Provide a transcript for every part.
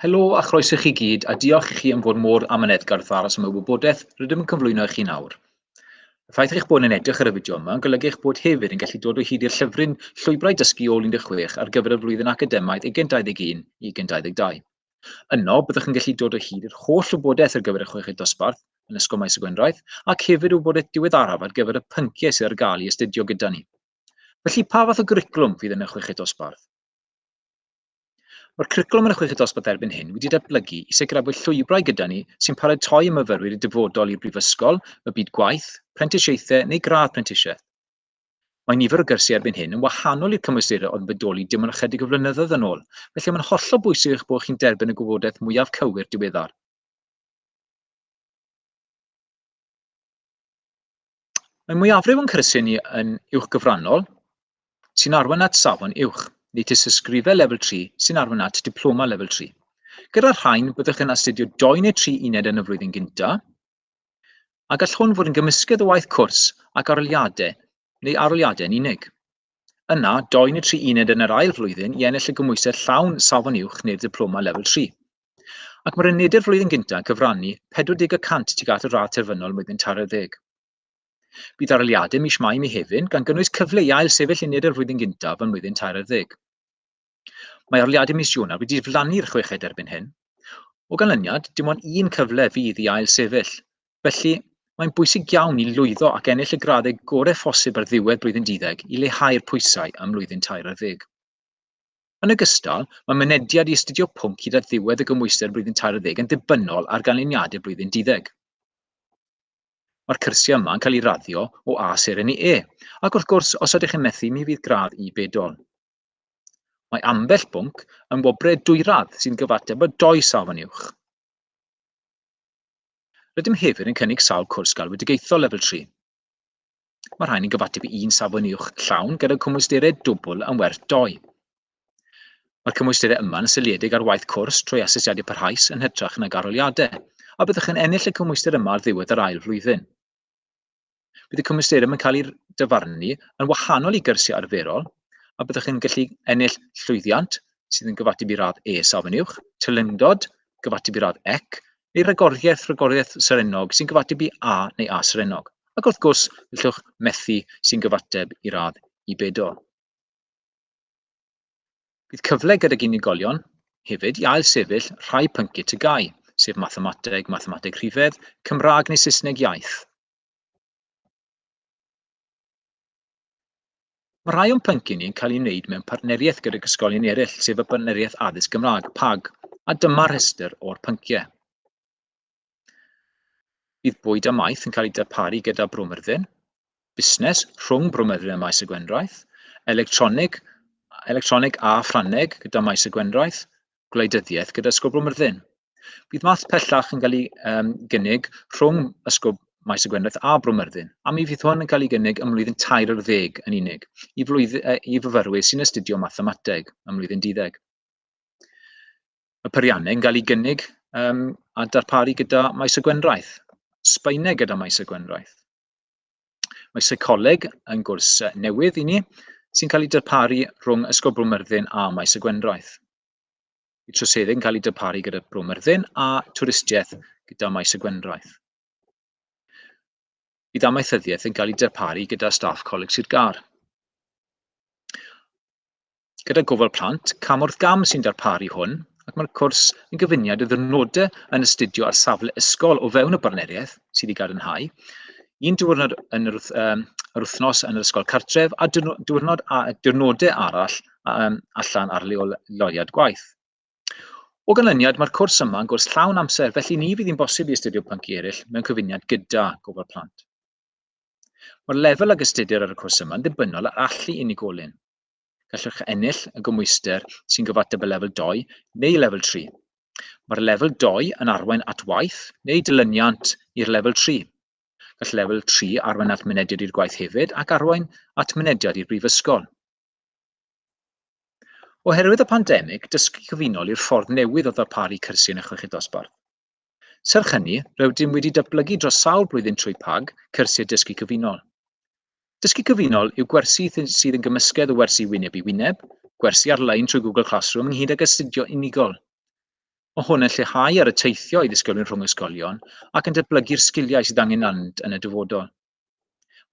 Helo a chroeso chi gyd, a diolch i chi am fod mor amyneddgar wrth aros am y wybodaeth rydym yn cyflwyno i chi nawr. Y ffaith eich bod yn edrych ar y fideo yma yn golygu eich bod hefyd yn gallu dod o hyd i'r llyfryn Llwybrau Dysgu Ôl 16 ar gyfer y flwyddyn academaidd 2021 i 2022. Yno, byddwch yn gallu dod o hyd i'r holl wybodaeth ar gyfer y chweched dosbarth yn Ysgol Maes y Gwendraeth ac hefyd wybodaeth diweddaraf ar gyfer y pynciau sydd ar gael i astudio gyda ni. Felly, pa fath o gwricwlwm fydd yn y chweched dosbarth? Mae'r cwricwlwm yn y chweched dosbarth erbyn hyn wedi datblygu i sicrhau bod llwybrau gyda ni sy'n paratoi y myfyrwyr i dyfodol i'r brifysgol, y byd gwaith, prentisiaethau neu gradd prentisiaeth. Mae nifer o gyrsiau erbyn hyn yn wahanol i'r cymwysterau oedd yn bodoli dim ond ychydig o flynyddoedd yn ôl, felly mae'n hollol bwysig eich bod chi'n derbyn y gwybodaeth mwyaf cywir diweddar. Mae mwyafrif o'n cyrsiau ni yn uwchgyfrannol, sy'n arwain at safon uwch, neu tystysgrifau lefel 3 sy'n arwain at diploma lefel 3. Gyda'r rhain, byddwch yn astudio doi neu tri uned yn y flwyddyn gyntaf, a gall hwn fod yn gymysgedd o waith cwrs ac aroliadau neu aroliadau yn unig. Yna, dou neu tri uned yn yr ail flwyddyn i ennill y gymwysedd llawn safon uwch neu'r diploma lefel 3. Ac mae'r unedau'r flwyddyn gyntaf yn cyfrannu 40 y cant tuag at y radd terfynol mlwyddyn taro ddeg. Bydd aroliadau mis Mai mi hefyd, gan gynnwys cyfle i ail sefyll uned yr flwyddyn gyntaf ym mlwyddyn tair ar ddeg. Mae arliadau mis Ionawr wedi diflannu'r chweched erbyn hyn. O ganlyniad, dim ond un cyfle fydd i ail sefyll. Felly, mae'n bwysig iawn i lwyddo ac ennill y graddau gorau phosib ar ddiwedd blwyddyn duddeg i leihau'r pwysau am lwyddyn tair ar ddeg. Yn ogystal, mae mynediad i astudio pwnc hyd at ddiwedd y gymwyster blwyddyn tair ar ddeg yn ddibynnol ar ganlyniadau blwyddyn duddeg. Mae'r cyrsiau yma yn cael eu raddio o A seren i E, ac wrth gwrs, os ydych chi'n methu, mi fydd gradd i bedol. Mae ambell bwnc yn wobrau dwyradd sy'n gyfateb â dou sâl fan uwch. Rydym hefyd yn cynnig sawl cwrs galwedigaethol lefel 3. Mae rhain yn gyfateb i un safon uwch llawn gyda cymwysterau dwbl yn werth doi. Mae'r cymwysterau yma yn seiliedig ar waith cwrs trwy asesiadau parhaus yn hytrach nag arholiadau, a byddwch yn ennill y cymwyster yma ar ddiwedd yr ail flwyddyn. Bydd y cymwysterau yn cael eu dyfarnu yn wahanol i gyrsiau arferol a byddwch chi'n gallu ennill llwyddiant sydd yn gyfateb i radd E safon uwch, teilyngdod, gyfateb i radd ec, neu ragoriaeth, ragoriaeth serennog sy'n gyfateb i A neu A serennog. Ac wrth gwrs, gallwch methu sy'n gyfateb i radd i bedol. Bydd cyfle gydag unigolion hefyd i ailsefyll rhai pynciau tygau, sef mathemateg, mathemateg rhifedd, Cymraeg neu Saesneg iaith. Mae rhai o'n pynciau ni'n cael ei wneud mewn partneriaeth gydag ysgolion eraill, sef y Partneriaeth Addysg Gymraeg, PAG, a dyma'r rhestr o'r pynciau. Bydd bwyd a maeth yn cael eu darparu gyda Brwmyrddin, busnes rhwng Brwmyrddin a Maes y Gwendraeth, electronig, electronig a Ffrangeg gyda Maes y Gwendraeth, gwleidyddiaeth gyda Ysgol Brwmyrddin. Bydd math pellach yn cael ei um, gynnig rhwng Ysgol Maes y Gwendraeth a Brwmyrddin, a mi fydd hwn yn cael ei gynnig ym mlwyddyn tair ar ddeg yn unig i, flwydd, uh, i fyfyrwyr sy'n astudio mathemateg ym mlwyddyn diddeg. y peiriannau yn cael eu gynnig yym a darparu gyda maes y gwendraeth, Sbaeneg gyda maes y gwendraeth. Mae seicoleg yn gwrs newydd i ni sy'n cael ei darparu rhwng Ysgol Bro Myrddin a Maes y Gwendraeth. Y troseddau yn cael ei darparu gyda Bro Myrddin a twristiaeth gyda Maes y Gwendraeth. Bydd amaethyddiaeth yn cael ei darparu gyda staff Coleg Sir Gar. gyda gofal plant cam wrth gam sy'n darparu hwn, ac mae'r cwrs yn gyfuniad o ddyrnodau yn astudio ar safle ysgol o fewn y barneriaeth sydd wedi gadarnhau, un diwrnod yn yr, um, yr wythnos yn yr ysgol cartref a diwrnod a diwrnodau arall um, allan ar leoliad gwaith. O ganlyniad, mae'r cwrs yma yn gwrs llawn amser, felly ni fydd hi'n bosib i astudio pynci eraill mewn cyfuniad gyda gofal plant. Mae'r lefel ag astudir ar y cwrs yma yn ddibynnol ar allu unigolyn. Gallwch ennill y gymhwyster sy'n gyfateb y lefel 2 neu lefel 3. Mae'r lefel 2 yn arwain at waith neu dilyniant i'r lefel 3. Gall lefel 3 arwain at mynediad i'r gwaith hefyd ac arwain at mynediad i'r brifysgol. Oherwydd y pandemig, dysgu cyfunol i'r ffordd newydd o ddarparu cyrsiau yn y chweched dosbarth. Serch hynny, rydym wedi datblygu dros sawl blwyddyn trwy PAG, cyrsiau dysgu cyfunol. Dysgu cyfunol yw gwersi sydd yn gymysgedd o wersi wyneb i wyneb, gwersi ar-lein trwy Google Classroom ynghyd ag astudio unigol. Mae hwn yn lleihau ar y teithio i ddisgyblion rhwng ysgolion ac yn datblygu'r sgiliau sydd angen arnynt yn y dyfodol.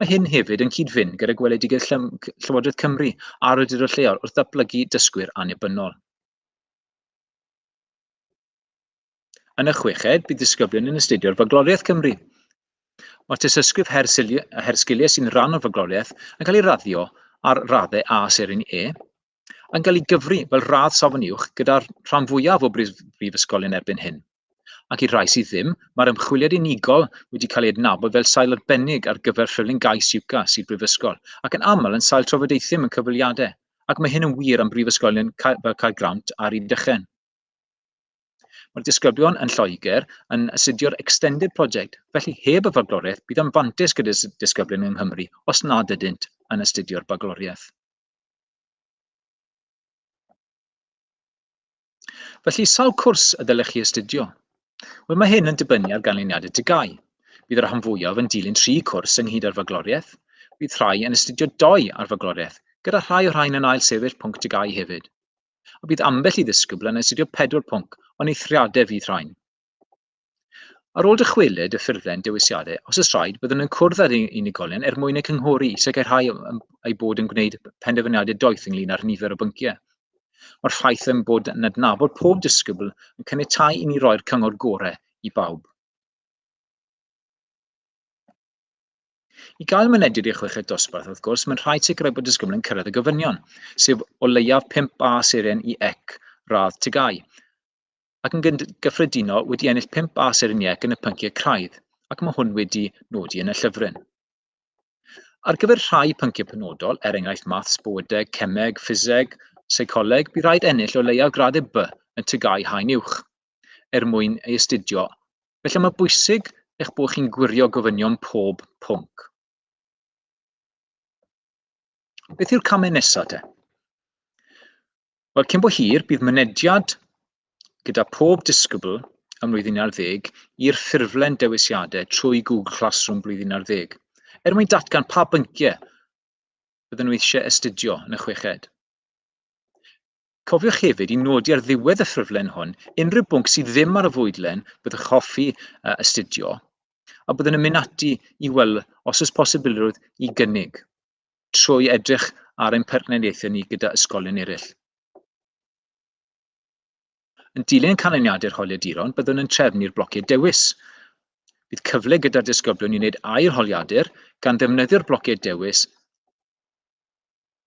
Mae hyn hefyd yn cyd-fynd gyda gweledigaeth Llywodraeth Cymru a'r awdurdod lleol wrth ddatblygu dysgwyr annibynnol. Yn y chweched, bydd disgyblion yn astudio'r Fagloriaeth Cymru. Mae tysysgrif her, her sgiliau sy'n rhan o'r fagloriaeth yn cael ei raddio ar raddau A serin E, yn cael ei gyfri fel radd safon uwch gyda'r rhan fwyaf o brifysgolion erbyn hyn. Ac i'r rhai sydd ddim, mae'r ymchwiliad unigol wedi cael ei adnabod fel sail arbennig ar gyfer rhywlun gais UCA sydd brifysgol, ac yn aml yn sail trafodaethau mewn cyfweliadau, ac mae hyn yn wir am brifysgolion fel Caergrawnt a'r Rhydychen. Mae'r disgyblion yn Lloegr yn asudio'r Extended Project, felly heb y fagloriaeth bydd yn fantais gyda disgyblion yng Nghymru os nad ydynt yn astudio'r bagloriaeth. Felly, sawl cwrs y ddylech chi astudio? Wel, mae hyn yn dibynnu ar ganlyniadau dygau. Bydd y rhan fwyaf yn dilyn tri cwrs ynghyd â'r fagloriaeth. Bydd rhai yn astudio doi ar fagloriaeth, gyda rhai o rhain yn ail sefyll pwnc dygau hefyd. a bydd ambell i ddisgybl yn astudio pedwar pwnc o'n eithriadau fydd rhain. Ar ôl dychwelyd y ffurflen dewisiadau, os oes rhaid, byddwn yn cwrdd â'r unigolion er mwyn eu cynghori i sicrhau eu bod yn gwneud penderfyniadau doeth ynglyn â'r nifer o bynciau. Mae'r ffaith yn bod yn adnabod pob disgybl yn caniatáu i ni roi'r cyngor gorau i bawb. I gael mynediad i'r chweched dosbarth, wrth gwrs, mae'n rhaid sicrhau bod disgybl yn cyrraedd y gofynion, sef o leiaf 5 A seren i ec radd tygau, ac yn gyffredinol wedi ennill 5 A seren i ec yn y pynciau craidd, ac mae hwn wedi nodi yn y llyfryn. Ar gyfer rhai pynciau penodol, er enghraifft maths, bywydeg, cemeg, ffiseg, seicoleg, bydd rhaid ennill o leiaf graddau B yn tygau haen uwch. er mwyn ei astudio, felly mae'n bwysig eich bod chi'n gwirio gofynion pob pwnc. Beth yw'r camau nesaf te? Wel, cyn bo hir, bydd mynediad gyda pob disgybl ym mlwyddyn ar ddeg i'r ffurflen dewisiadau trwy Google Classroom blwyddyn ar ddeg, er mwyn datgan pa bynciau bydden nhw eisiau astudio yn y chweched. Cofiwch hefyd i nodi ar ddiwedd y ffurflen hwn unrhyw bwnc sydd ddim ar y fwydlen byddwch hoffi uh, astudio, a byddwn yn mynd ati i weld os oes posibilrwydd i gynnig, trwy edrych ar ein partneriaethau ni gyda ysgolion eraill. Yn dilyn canlyniadau'r holiaduron, byddwn yn trefnu'r blociau dewis. Bydd cyfle gyda'r disgyblion i wneud ail holiadur gan ddefnyddio'r blociau dewis